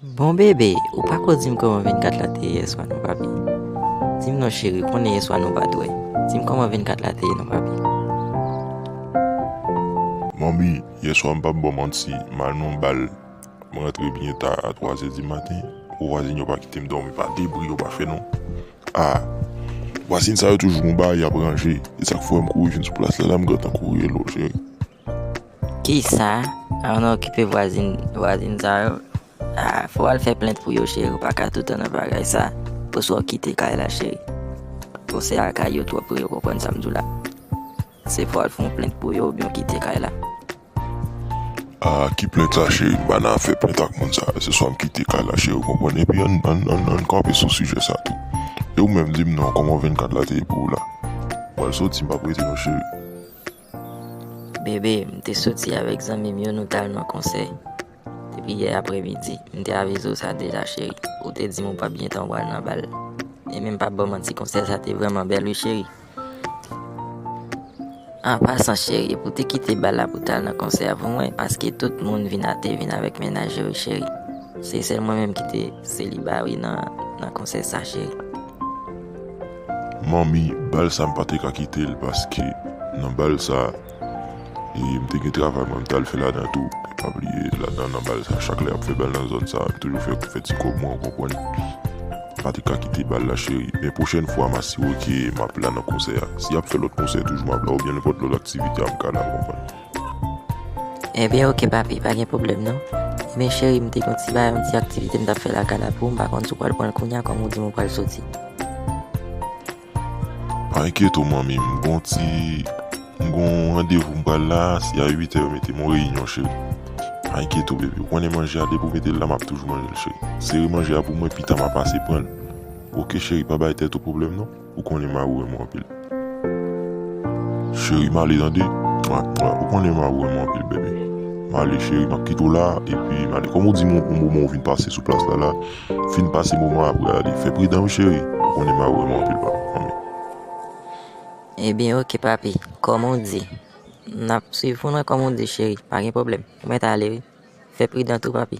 Bon bebe ou pako dim koman 24 la te ye yeswa non papi dim non cheri ou konnen yeswa nou pat wè dim koman 24 la te ye non papi. Manmi yeswa m pap baw manti m al nan bal m rantre byen ta a 3 zè di maten pou vwazin yo pa kitem domi pa de bri yo pa fè non ah vwazin sa yo toujou gon bagay yap ranje esak fè m kouri vin sou plas la la m gentan kouri elo cheri. Kisa an nan okipe vwazin vwazin sa yo ah, fò al fè plent pou yo cheri ou paka toutan nan bagay sa oswa ou kite kay la cheri ou se al kay yo twòp pou yo konprann sa m di w la se fò al fon plent pou yo oubyen ou kite kay la. Ah ki plent sa cheri m pa nan fè plent ak moun sa yo se swa m kite kay la cheri ou konprann epi an an an kanpe sou sijè sa tou e ou menm di m non kòman 24 la te ye pou ou la. Mwen soti m pap rete non cheri. Bebe, m te soti avèk zanmi m yo nou t al nan konsè. Depi yè apremidi, m te avize w sa deja cheri. Ou te di m ou pap gen tan pou al nan bal. E menm pa ba w manti konsè sa te vrèman bèl wi cheri. An pasan cheri, pou w te kite bal la pou w t al nan konsè a pou mwen paske tout moun vin a te vin avèk mennaj yo wi cheri. Se sèl mwen menm ki te seliba wi nan konsè sa cheri. Manmi bal sa m pa te ka kite l paske nan bal sa e m te gen travay mwen m t al fè ladan tou e pa bliye ladan nan bal sa chak lè y ap fè bal nan zòn sa m toujou fè fè ti kòb mwen ou konprann. M pa te ka kite bal la cheri men pwochèn fwa m asire w ke m ap la nan konsè a si y ap fè lòt konsè toujou m ap la oubyen nenpòt lòt aktivite amka la ou konprann. Ebyen ok papi pa gen pwoblèm non Ebyen cheri m te gen yon ti bagay yon ti aktivite m t ap fè lakay la pou ou m pa konn si w pral pran l kounye a kòm ou di m ou pral soti Pa enkyete w manmi m gen yon ti m gen yon randevou m pral la se a uitè mete m yon reyinyon cheri Pa enkyete w bebe ou konnen manje a depi w mete l la m ap toujou manje l cheri Sere manje a pou mwen pita m a pase pran l Ok cheri pa bay tèt ou pwoblèm non. Ou konnen ma ou renmen w anpil Cheri m ale tande Ou konnen ma ou renmen w anpil baby M ale cheri m ap kite w la epi m ale Kòm ou di m yon moman ou vin pase sou plas la la Fin pase moman an apre ale Fè pridan wi cheri Ou konnen ma ou renmen w anpil papi Anmweyy. Ebyen ok papi Kòm ou di M ap swiv ou nan kòm ou di cheri Pa gen pwoblèm Ou mèt ale wi Fè pridan tou papi.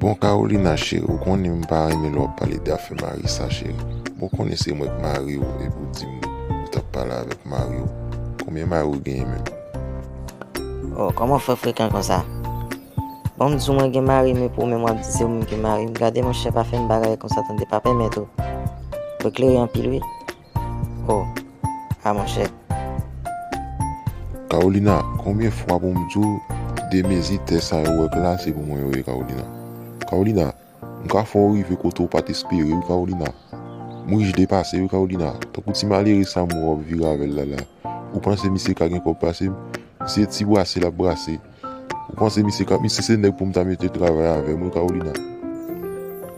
Bon Carolina chérie ou konnen m pa renmen lè wap pale de afè mari sa chérie bon ou konnen se mwen k mari w epi w dim ou tap pale avèk mari w konbyen mari w genyen menm. Oh kòman w fè frekan konsa bon m di w mwen gen mari m epi w menm wap di se ou menm ki mari m gade monchè pa fè m bagay konsa tande pa pèmèt ou klere anpil wi Oh ah monchè. Carolina konbyen fwa pou m di w de mezi tè sa yo w wè glase pou mwen yo ye Carolina Carolina m ka fè w rive kote w pat espere wi Carolina m rich depase wi Carolina tankou ti malere sa m wè w ap vire avè l la la ou panse misye ka gen kòb pase m misye ti brase l ap brase. Ou panse misye kap misye se nèg poum ta mete travay avèm wi Carolina.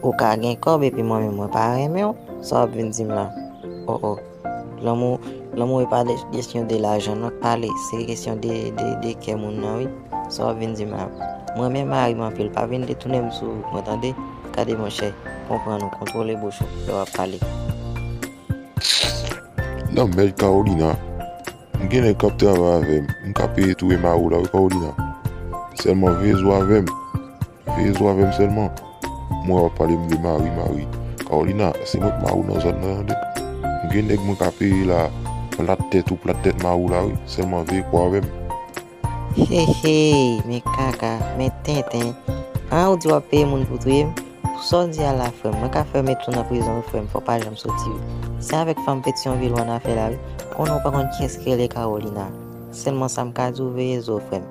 Ou ka gen kòb epi mwen menm mwen pa renmenw sa wap vin dim la oh oh lanmou lanmou epa kesyon de lajan non ale se kesyon de kè moun nan wi sa wap vin dim la m renmen marim anpil pa vin detounem sou mwen tande gade monchè konprann ou kontwole bouch ou lè wap pale. Lanmèd Carolina M gen nèg kap travay avèm m ka peye tou ema ou la wi Paulina sèlman veye zo avèm veye zo avèm sèlman m wè wap pale m de mari mari Carolina se mwen ki mari w nan zòn nan tande m gen nèg mwen ka peye la plat tèt ou plat tèt mari w la wi sèlman veye kò avèm. Hehey men kaka men tenten an ou di wap peye moun pou touye m pou sa w di a la frè m mwen ka fè met ou nan prizon wi frè m fè w pa janm soti wi se avèk fanm petion ville w an afè la wi konnen w pa konn kiyès ki rele Carolina sèlman sa m ka di w veye zo w frè m.